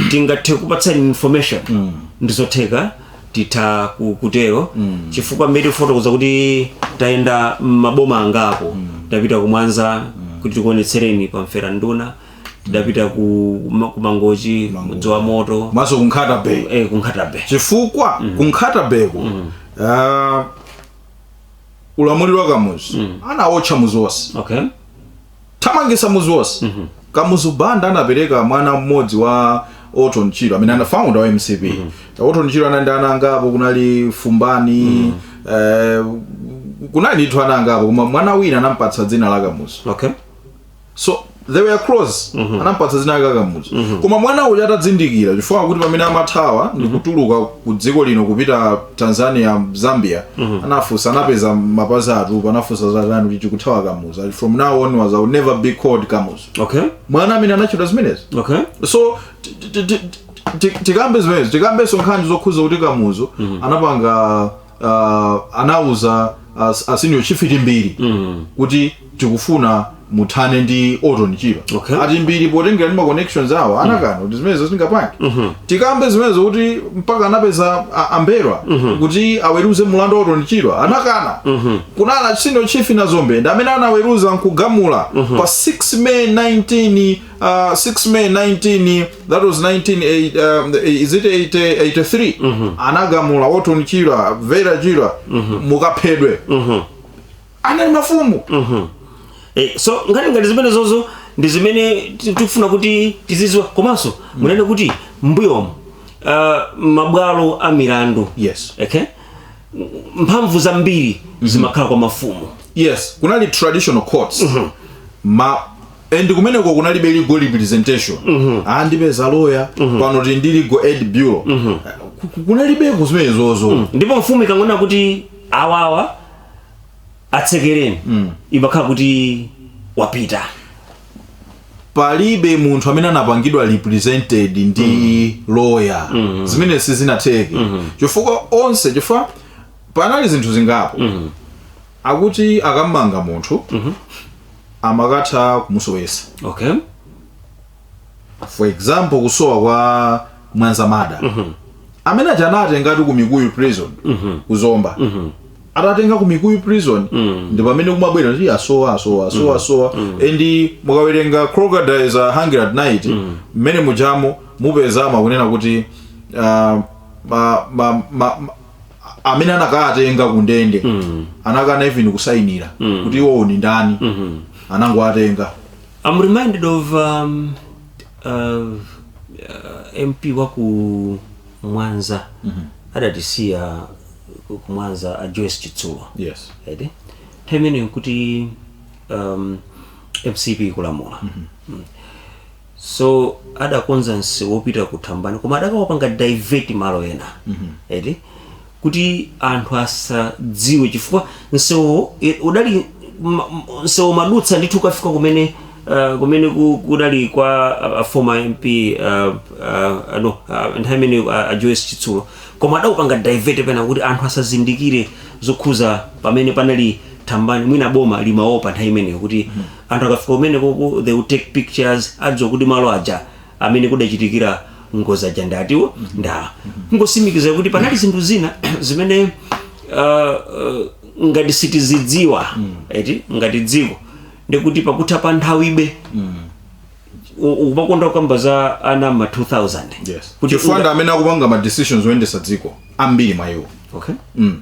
tingathe kupatsani information ndizotheka titha ku- kutero chifukwa mmene tikufotokoza kuti tayenda maboma angapo tapita kumwanza kuti tikuonetsereni pamfera nduna tidapita ku ma- ku mangochi mudzi wa Moto komanso ku Nkhata Bay eh, ku Nkhata Bay chifukwa ku Nkhata Bay ko uh, ulamuliro wa kamuzu anawotcha mudzi onse okay thamangisa mudzi wonse kamuzu banda anapereka mwana mmodzi wa orton chirwa amene anali founder wa mcp orton chirwa anali ndi ana angapo kunali fumbani eh, kunali ndithu ana angapo koma mwana wina anampatsa dzina la kamuzu okay so they were close anampatsa dzina la kamuzu koma mwana uja atadzindikira chifukwa kuti pamene amathawa ndikutuluka ku dziko lino kupita tanzania zambia anafunsa anapeza mapazi atupa anafunsa zatani kuti tikuthawa kamuzu Ali, from now onwards I'll never be called kamuzu okay mwana amene anatchedwa zimenezi okay so ti- ti- ti- ti- tikambe zimenezi tikambenso nkhani zokhuza kuti kamuzu anapanga uh, anauza as, a senior chief timbiri mm. kuti tikufuna muthane ndi orton chirwa Okay. a timbiri potengera ndi ma connections awo anakana kuti zimenezo sindingapange mm-hmm. tikambe zimenezo kuti mpaka anapeza a- a m'mbelwa mm-hmm. kuti aweruze mulandu wa orton chirwa anakana mm-hmm. kunali a senior chief nazombe ndi amene anaweruza nkugamula mm-hmm. pa 6 may 19 uh, 6 may 19 that was 19 um, is it 80, 83 mm -hmm. anagamula orton chirwa vera chirwa mm -hmm. mukaphedwe mm -hmm. anali mafumu mm -hmm. eh, so nkhani ngati zimenezozo ndi zimene tikufuna kuti tizidziwa komanso mm -hmm. munene kuti m'mbuyomo uh, mabwalo a milandu yes okay mphamvu zambiri mm -hmm. zimakhala kwa mafumu yes kunali traditional courts mm -hmm. ma and kumeneko kunalibe legal representation andipeza lawyer pano tili ndi legal aid bureau Ku- ku- kunalibeko zimenezozo ndipo mfumu ikangonena kuti awawa atsekereni imakhala kuti wapita palibe munthu amene anapangidwa represented ndi lawyer zimene sizinatheke chifukwa onse chifukwa panali zinthu zingapo akuti akamanga munthu amakatha kumusowesa okay for example kusowa kwa mwanza murder amene aja anatengatu ku mikuyu prison ku zomba atatenga ku mikuyu prison ndi pamene kumabwera kuti asowa asowa asowa asowa and mukawerenga crocodiles are hungry at night mmene mujamo mupezamo kunena kuti ah, ma, ma, ma, ma, a- amene anakawatenga ku ndende anakana even kusayinira kuti iwowo ni ndani anangowatenga I'm reminded of um, uh, uh, MP wa ku Mwanza adatisiya ku ku Mwanza a Joyce Chitsulo yes right nthawi imeneyo kuti um, mcp ikulamula Mm. so adakonza msewu wopita ku thambani koma adakaupanga divert malo ena eti kuti anthu asadziwe chifukwa msewu e, udali ma- m- msewu madutsa ndithu ukafika kumene uh, kumene ku- kudali kwa uh, former mp uh, uh, no uh, nthawi imene uh, a joyce chitsulo koma adaupanga divert pena kuti anthu asazindikire zokhuza pamene panali thambani mwina boma limaopa nthawi imeneyo kuti Anthu akafika kumenekoko they will take pictures adziwa kuti malo aja amene kudachitikira ngozi aja ndi atiwo ndi awa. Kungotsimikiza kuti panali zinthu zina zimene ah, ah, ngati sitizidziwa eti ngati dziko ndikuti pakutha pa nthawibe u- ukumakonda kukamba za ana ma 2000 Kuti chifukwa ndi unga- amene akupanga ma decisions oyendesa dziko ambiri mwa iwo okay. mm.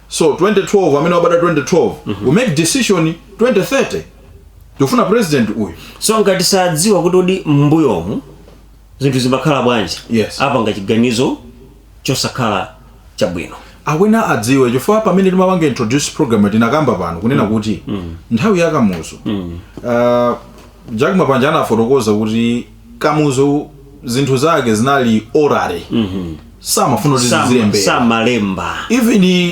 so 2012 amene wabadwa 2012 we make decision 2030 tikufuna president uyu so ngati sadziwa kuti udi m'mbuyomu zinthu zimakhala bwanji Yes. apanga chiganizo chosakhala chabwino akuyenera adziwe chifukwa pamene timapanga introduce program tinakamba pano kunena kuti nthawi ya kamuzu uh, jack mapanje anafotokoza kuti Kamuzu zinthu zake zinali orally samafuna kuti Sama- zizilembedwa samalemba even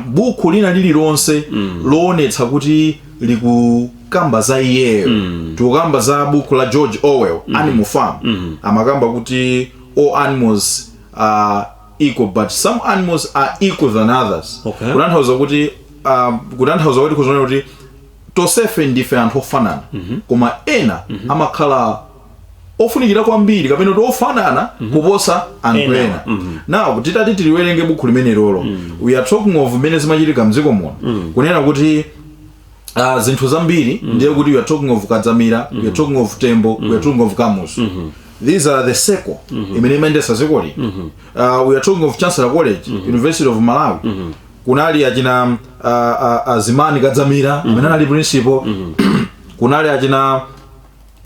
buku lina lililonse loonetsa kuti likukamba za iyeyo tikukamba za buku la george orwell animal farm amakamba kuti all animals are equal but some animals are equal than others Okay. kutanthauza kuti ah, kutanthauza kuti kuzanena kuti tonsefe ndife anthu ofanana koma ena amakhala ofunikira kwambiri kapena kuti ofanana kuposa anthu Ena. ena now titati tiliwerenge bukhu limenelolo we are talking of mmene zimachitika mdziko muno kunena kuti uh, zinthu zambiri ndiye kuti we are talking of kadzamira we are talking of tembo we are talking of kamuzu these are the circle imene imayendesa dziko lino uh, we are talking of chancellor college university of malawi kunali achina uh, uh, uh, zimani kadzamira mm -hmm. amene anali principal mm -hmm. kunali achina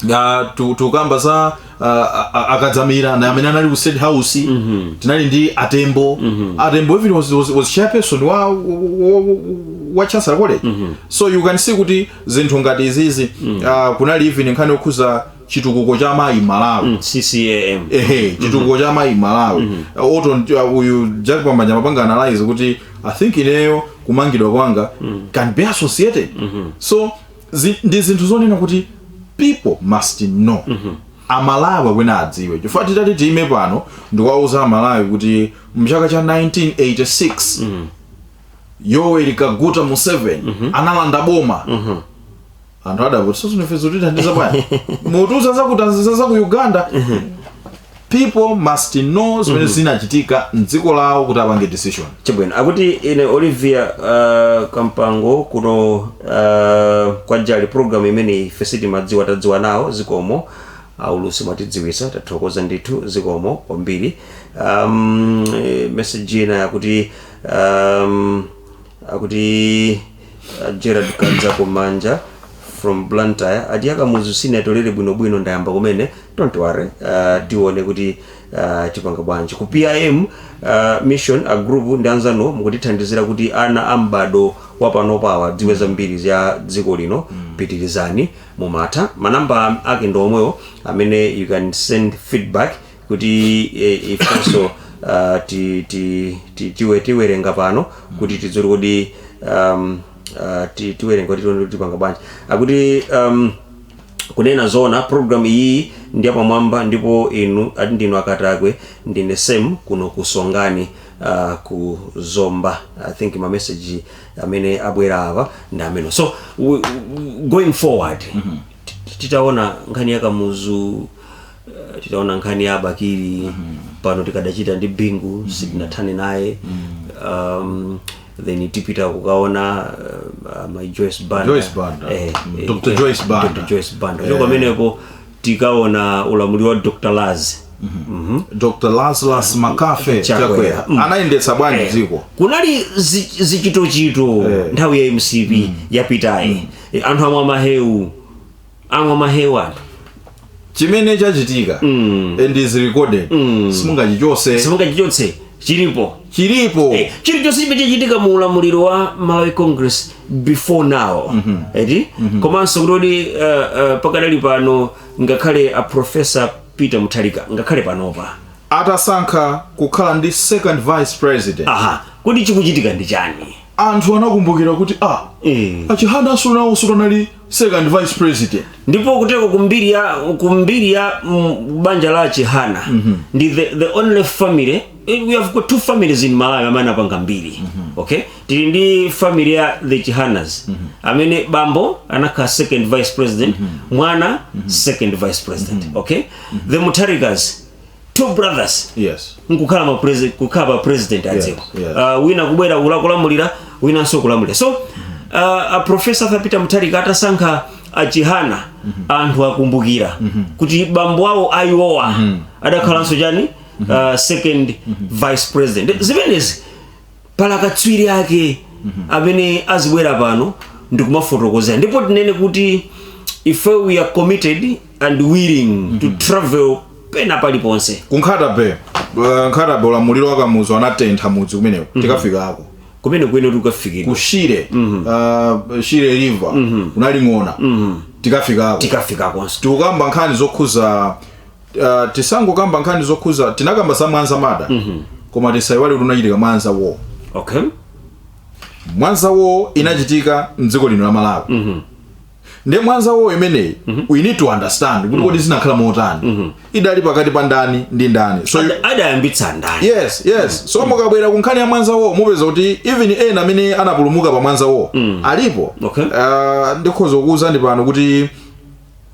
uh, tu- tukamba za uh, a- a- akadzamira ena amene anali ku state house mm -hmm. tinali ndi atembo mm -hmm. atembo even was, was, was chairperson wa, wa, wa, wa chancellor college mm -hmm. so you can see kuti zinthu ngati izizi mm -hmm. uh, kunali even nkhani yokhuza chitukuko cha mayi malawi mm, ccam ehe chitukuko cha amayi m'malawi mm -hmm. although ndi- uh, uyu jack mapanje amapanga analyze kuti i think ineyo kumangidwa kwanga mm. can be associated mm -hmm. so zi, ndi zinthu zonena kuti people must know mm -hmm. amalawi akuyenera adziwe chifukwa titati tiime pano ndikuwauza amalawi kuti mchaka cha 1986 mm. yoweri kaguta museveni mm -hmm. analanda boma mm -hmm. anthu adavuti so ndife zotithandiza bwana mutiuze za ku Tanzania za ku uganda people must know zimene zinachitika mdziko lawo kuti apange decision chabwino akuti ine olivia uh, kampango kuno uh, kwa jali program imeneyi yesitimadziwa tadziwa nawo zikomo aulusi mwatidziwisa tathokoza ndithu zikomo kwambiri um, eh, message ina yakuti um, akuti Uh, gerard kanza kumanja from blantyre ati ya Kamuzu sinatolere bwinobwino ndayamba kumene don't worry uh, tione kuti uh, tipanga bwanji ku pim uh, mission a Glory ndi anzanu mukutithandizira kuti ana a m'bado wapanopawa adziwe zambiri za dziko lino pitirizani mumatha manamba ake ndi omwewo amene you can send feedback kuti ifenso tiwerenga pano kuti tidziwe kodi tiwerenga kuti tione kuti tipanga bwanji akuti kunena zoona program iyi ndi yapamwamba ndipo inu ati ndinu akatakwe ndine sem kuno ku songani uh, ku zomba i think ma message amene abwera apa ndi amene so w- w- going forward titaona nkhani ya Kamuzu Eh, titaona nkhani ya bakili pano tikadachita ndi bingu sitinathane naye um, then tipita kukaona uh, mayi joyce banda Joyce Banda. Eh, Mm. eh, Dr. eh, Joyce Banda. Dr. joyce banda Eh. kuchoka pamenepo tikaona ulamuliro wa dr laz Mhm. dr Lazarus McCarthy Chakwera. chakwera Mm. anayendetsa bwanji Eh, dziko kunali zi- zichitochito Eh. nthawi ya mcp yapitayi Eh, anthu amwa mahewu amwa mahewu anthu chimene chachitika Mm. and is recorded Mm. simungachichotse simungachichotse chilipo chilipo Eh, chilichonse chimene chachitika mu ulamuliro wa malawi congress before now eti komanso kuti uh, uh, pakadali pano ngakhale a professor peter Mutharika ngakhale panopa atasankha kukhala ndi second vice president aha kuti chikuchitika ndi chani anthu anakumbukira kuti ah eh, a Chihana aja nawonso anali second vice president ndipo kutereko kumbiri ya kumbiri ya mm, banja la chihana ndi the, the only family eh, we have got two families in malawi amene apanga mbiri okay tili ndi family ya the chihanas amene bambo anakhala second vice president mwana second vice president okay the Mutharikas two brothers yes nkukhala ma president kukhala ma president a dziko yes. uh, wina kubwera kula- kulamulira winanso kulamulira so uh, a professor arthur peter mutharika atasankha a Chihana anthu akumbukira kuti bambo awo a iwowa adakhalanso chani uh, second vice president zimenezi pala katswiri wake amene azibwera pano ndikumafotokozera ndipo tinene kuti ife we are committed and willing to travel pena paliponse ku nkhata bay uh, nkhata bay ulamuliro wa kamuzu anatentha mudzi kumeneko tikafikako kumene tikuyenera kukafikidwa ku shire uh, shire river kunali ng'ona tikafikako tikafikakonso tikukamba nkhani zokhuza uh, tisangokamba nkhani zokhuza tinakamba za mwanza murder mm -hmm. koma tisaiwale kuti kunachitika mwanza war okay mwanza war inachitika mdziko lino la malawi mm -hmm. nde mwanza war imeneyi mm -hmm. we need to understand kuti mm -hmm. kodi zinakhala motani mm -hmm. idali pakati pa ndani ndi ndani so Ada- adayambitsa ndani yes yes so mukabwera ku nkhani ya mwanza war mupeza kuti even ena amene anapulumuka pa mwanza war alipo Okay. uh, ndikhoza kukuwuzani pano kuti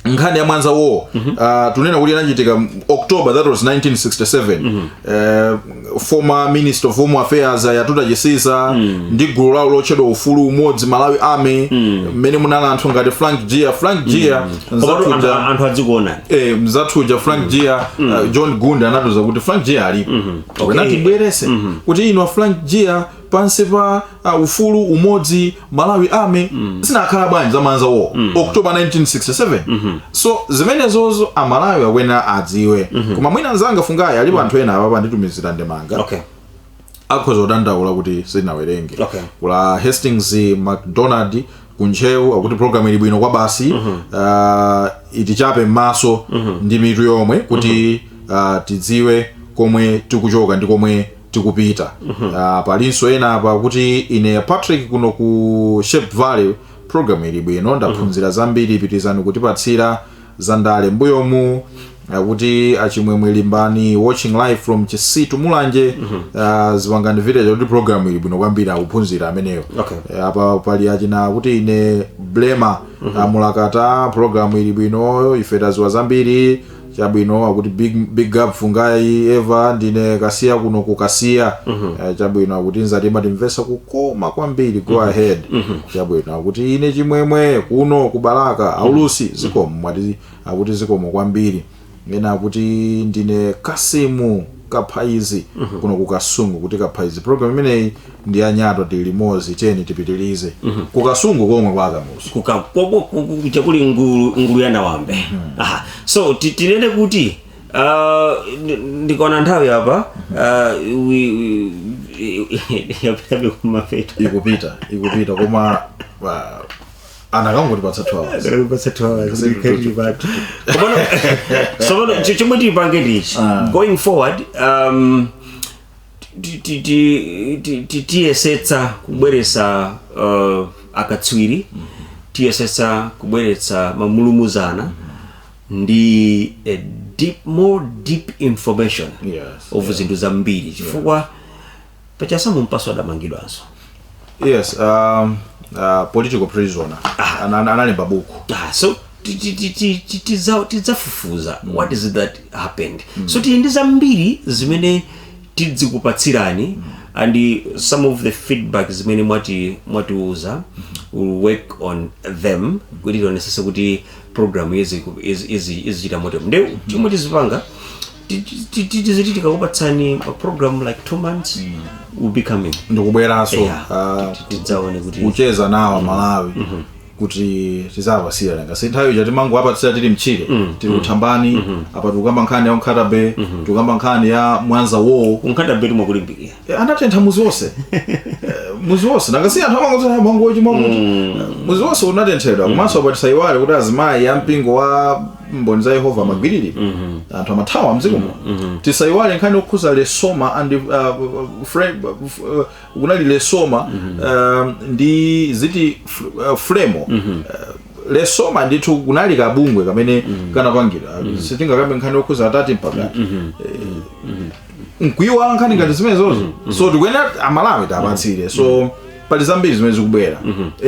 nkhani ya mwanza war uh, tunena kuti inachitika m- october that was 1967 uh, former minister of home affairs a yatuta chisiza ndi gulu lawo lotchedwa ufulu umodzi malawi army mmene munali anthu ngati frank jiya frank jiya Komatu anthu- nzathuja anthu adzikuona eh, mzathuja frank jiya uh, john gunda anatiuza kuti frank jiya alipo Okay. okay. atibweretse mu studio muno frank jiya pansi pa uh, ufulu umodzi malawi army mm. zinakhala bwanji za mwanza war mm. october 1967 mm -hmm. so zimenezozo amalawi akuyenera adziwe mm -hmm. koma mwina nzanga fungai alipo mm. anthu ena apapa anditumizira ndemanga okay akhoza kudandaula kuti sinawerenge okay. kuli hastings mcdonald kuntcheu akuti program ili bwino kwabasi mm -hmm. uh, itichape m'maso mm -hmm. ndi mitu yomwe kuti mm -hmm. uh, tidziwe komwe tikuchoka ndi komwe tikupita Ah, palinso ena apa kuti ine patrick kuno ku shire valley program ili bwino ndaphunzira zambiri pitirizani kutipatsira za ndale mbuyomu akuti achimwemwe limbani watching live from chisitu mulanje Ah, zipangani village kuti program ili bwino kwambiri akuphunzira ameneyo Okay. Eh, apa pali achina kuti ine blema mulakata program ili bwino ife tadziwa zambiri chabwino akuti big, big up fungai eva ndine kasiya kuno kukasiya Eh, chabwino akuti mzati mumatimvetsa kukoma kwambiri go ahead chabwino akuti ine chimwemwe kuno kubalaka aulusi zikomo mwati akuti zikomo kwambiri ena akuti ndine kasimu kaphaizi kuno ku kasungu kuti kaphaizi program imeneyi ndi ya nyatwa tili limodzi tiyeni tipitilize ku kasungu komwe kwa akamuzu kuka kobo- ku- ku- kuja kuli ngulu ngulu ya nawambe aha so ti- tinene kuti ah, ndi- ndikaona nthawi apa ah, wi- wi- yapitabe kumapeto ikupita ikupita koma ah, anakangotipatsa 2 hours Anakangotipatsa 2 hours, Zero, ndikhala ndili pathu. Komano, tsopano, chi- chomwe tipange ndichi Ah. going forward um, ti- ti- ti- ti- ti- tiyesetsa kubweretsa uh, akatswiri tiyesetsa kubweretsa mamulumuzana ndi a deep, more deep information Yes, of zinthu zambiri chifukwa pa Chasamu Mpasu adamangidwanso yes um, uh, political prisoner Ana- ana- analemba buku Ah, so ti- ti- ti- ti- ti- tiza- tidzafufuza what is it that happened so tili ndi zambiri zimene tidzikupatsirani and some of the feedback zimene mwati- mwatiuza will work on them kuti tionesese kuti program izi- izi- izi- izichita moto nde chomwe tizipanga Ti- ti- ti- ti- tiziti tikakupatsani ma program like two months will be coming ndikubweranso Yeah. ah, Ti- ti- tidzaone kuti kucheza nawo amalawi kuti tidzawapatsire nanga si nthawi ija timangowapatsira tili mtchire tili kuthambani apa tikukamba nkhani ya ku Nkhata Bay tikukamba nkhani ya mwanza wo ku Nkhata Baytu mwakulimbikira Eh, anatentha muzi wonse Eh, muzi wonse nanga si anthu amangotsala Mangochi Mangochi muzi wonse unatenthedwa komanso apa tisayiwale kuti azimayi a mpingo wa mboni za yehova amagwiriridwa anthu amathawa mdziko muno tisayiwale nkhani okhuza lesoma and uh, frame, uh, kunali lesoma um, ndi ziti fl- uh, fremo uh, lesoma ndithu kunali kabungwe kamene kanapangidwa sitingakambe nkhani okhuza a Tati mpaka nkuyiwala nkhani ngati zimenezozo so tikuyenera amalawi tiwapatsire so pali zambiri zimene zikubwera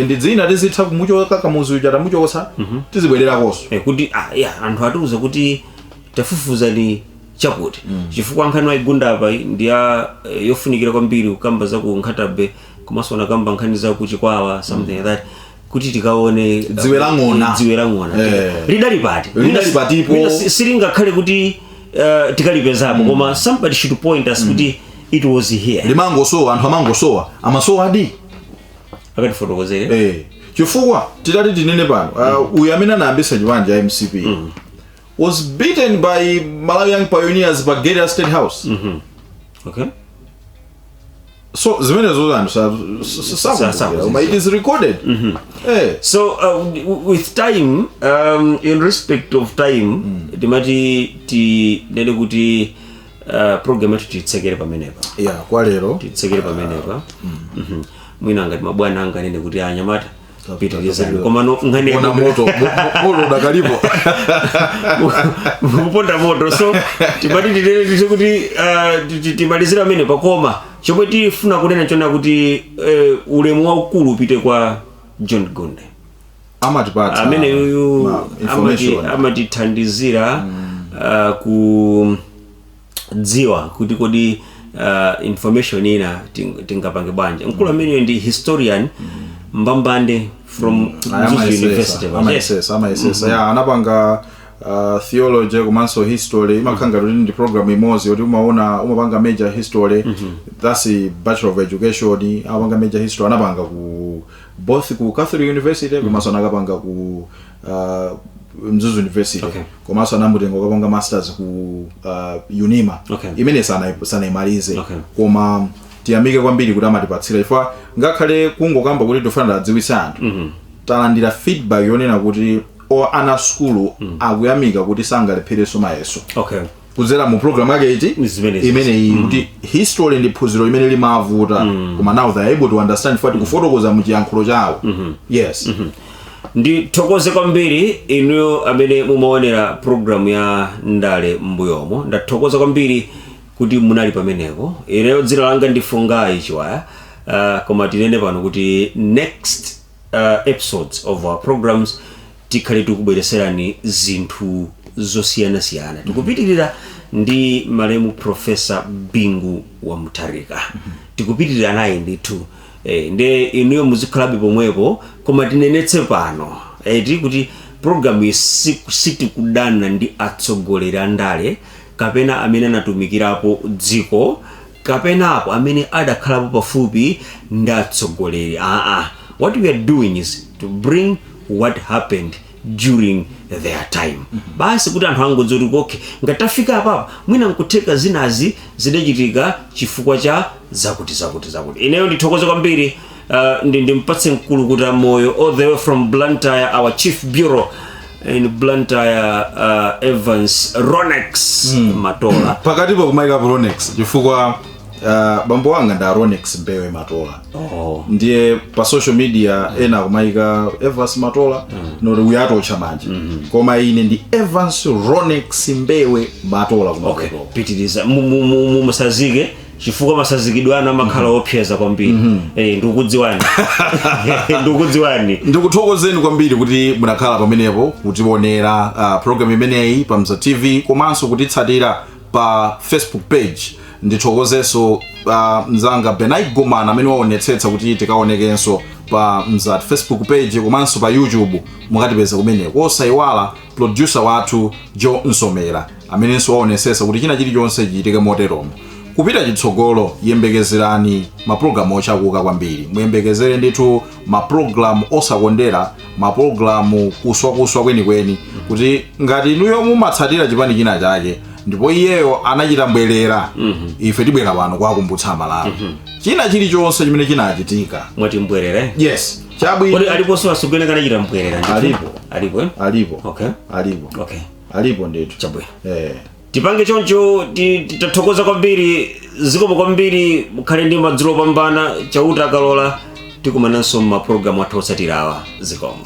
ndi zina tizitha kumuchotsa kamuzu uja tamuchosa tizibwererakonso Eh, kuti ah, ya anthu atiuza kuti tafufuzani chakuti chifukwa nkhani waigunda apa ndi ya eh, yofunikira kwambiri kukamba za ku nkhatabe komanso anakamba nkhani za ku chikwawa something like that kuti tikaone Dziwe la ng'ona. dziwe la ng'ona Eh. lidali pati Lidali Mwina- patipo. mwina si- silingakhale kuti uh, tikalipezapo koma somebody should point us kuti it was here limangosowa anthu amangosowa amasowadi akatifotokozere eh. chifukwa titati tinene pano uh, uyu amene anayambisa chipani cha mcp was beaten by malawi young pioneers pa gate ya state house okay so zimenezo anthu sa- sa- sa- sakuziwa. sakuziwa. Koma it is recorded Eh, so uh, w- with time um, in respect of time timati tinene kuti uh, program yathu titsekere pamenepa yeah kwa lero titsekere pamenepa Mhm. mwina ngati mabwana anganene kuti anyamata pitilizani komano nkhani ona yakuti- moto moto udakalipo kuponda moto so timati tinene kuti ah, ti- ti- timalizira pamenepa koma chomwe tifuna kunena chona kuti eh, ulemu waukulu upite kwa john gonde amatipatsa amene uyu ma- amati- information. amatithandizira ah, ku kudziwa kuti kodi uh, information ina ting- tingapange bwanji mkulu ameneyo ndi historian mbambande from Mzuzu University Yes. amayesetsa amayesetsa ya anapanga uh, theology komanso history imakhala ngati kuti ndi program imodzi yoti umaona umapanga major history that's a bachelor of education amapanga major history anapanga ku both ku catholic university komanso anakapanga ku uh, mzuzu university Okay. komanso anamutenga kukapanga masters ku uh, unima Okay. imene sana- sanaimalize Okay. koma tiyamike kwambiri kuti amatipatsira chifukwa ngakhale kungokamba kuti tifuna tiwadziwitse anthu talandira feedback yonena kuti o ana asukulu akuyamika kuti sangalepherenso mayeso okay kudzera mu program yake eti Ni zimene zizi. imeneyi kuti history ndi phunziro limene limavuta koma now they are able to understand chifukwa tikufotokoza mu chiyankhulo chawo yes ndithokoze kwambiri inuyo amene mumaonera programu ya ndale m'mbuyomo ndathokoza kwambiri kuti munali pamenepo ineyo dzina langa ndi fungai chiwaya uh, koma tinene pano kuti next uh, episodes of our programs tikhale tikubwereserani zinthu zosiyanasiyana tikupitirira ndi malemu profesa bingu wa mutharika tikupitirira naye ndithu ee nde inuyo muzikhalabe pomwepo koma tinenetse pano eti kuti program yi sitikudana ndi atsogoleri andale kapena amene anatumikirapo dziko kapenapo amene adakhalapo pafupi ndi atsogoleri aa what we are doing is to bring what happened during their time basi kuti anthu angodziwa kuti okay ngati tafika apapa mwina nkutheka zinazi zidachitika chifukwa cha zakuti zakuti zakuti ineyo ndithokoze kwambiri uh, ndi ndimpatse mkulukuta moyo all the way from blantyre our chief bureau in blantyre uh, evans ronex matola pakatipo kumaika ronex chifukwa uh, bambo wanga ndi a ronex mbewe matola oh. ndiye pa social media mm. ena akumayika evans matola mm. noti uyatotcha manje mm -hmm. koma ine ndi evans ronex mbewe matola okay. pitiriza musazike chifukwa masazikidwe anu amakhala mhm. opseza kwambiri mm -hmm. eh, ndikukudziwani ndikukudziwani ndikuthokozeni kwambiri kuti munakhala pamenepo kutiwonera uh, ah, programu imeneyi pa mzati tv komanso kutitsatira pa facebook page ndithokozenso a mzanga benai gomana amene waonetsetsa kuti tikaonekenso pa mzati facebook page komanso pa youtube mukatipeze kumeneko osaiwala producer wathu jo nsomera amenenso waonetsetsa kuti china chilichonse chichitike moteromo kupita chitsogolo yembekezerani mapulogalamu otchakuka kwambiri muyembekezere ndithu mapulogalamu osakondera mapulogalamu kuswakuswa kwenikweni kuti ngati inuyo mumatsatira chipani china chake ndipo iyeyo anachita mbwerera ife tibwera pano kuwakumbutsa amalawi china chilichonse chimene chinachitika mwati mbwerere yes chabwino kodi aliponso ansogoleri anachita mbwerera ndithu? Alipo. alipo eh? alipo okay alipo okay alipo ndithu chabwino eh tipange choncho ti- ti- tathokoza kwambiri zikomo kwambiri mukhale ndi madzulo opambana chauta akalola tikumananso m'mapulogalamu athu otsatirawa zikomo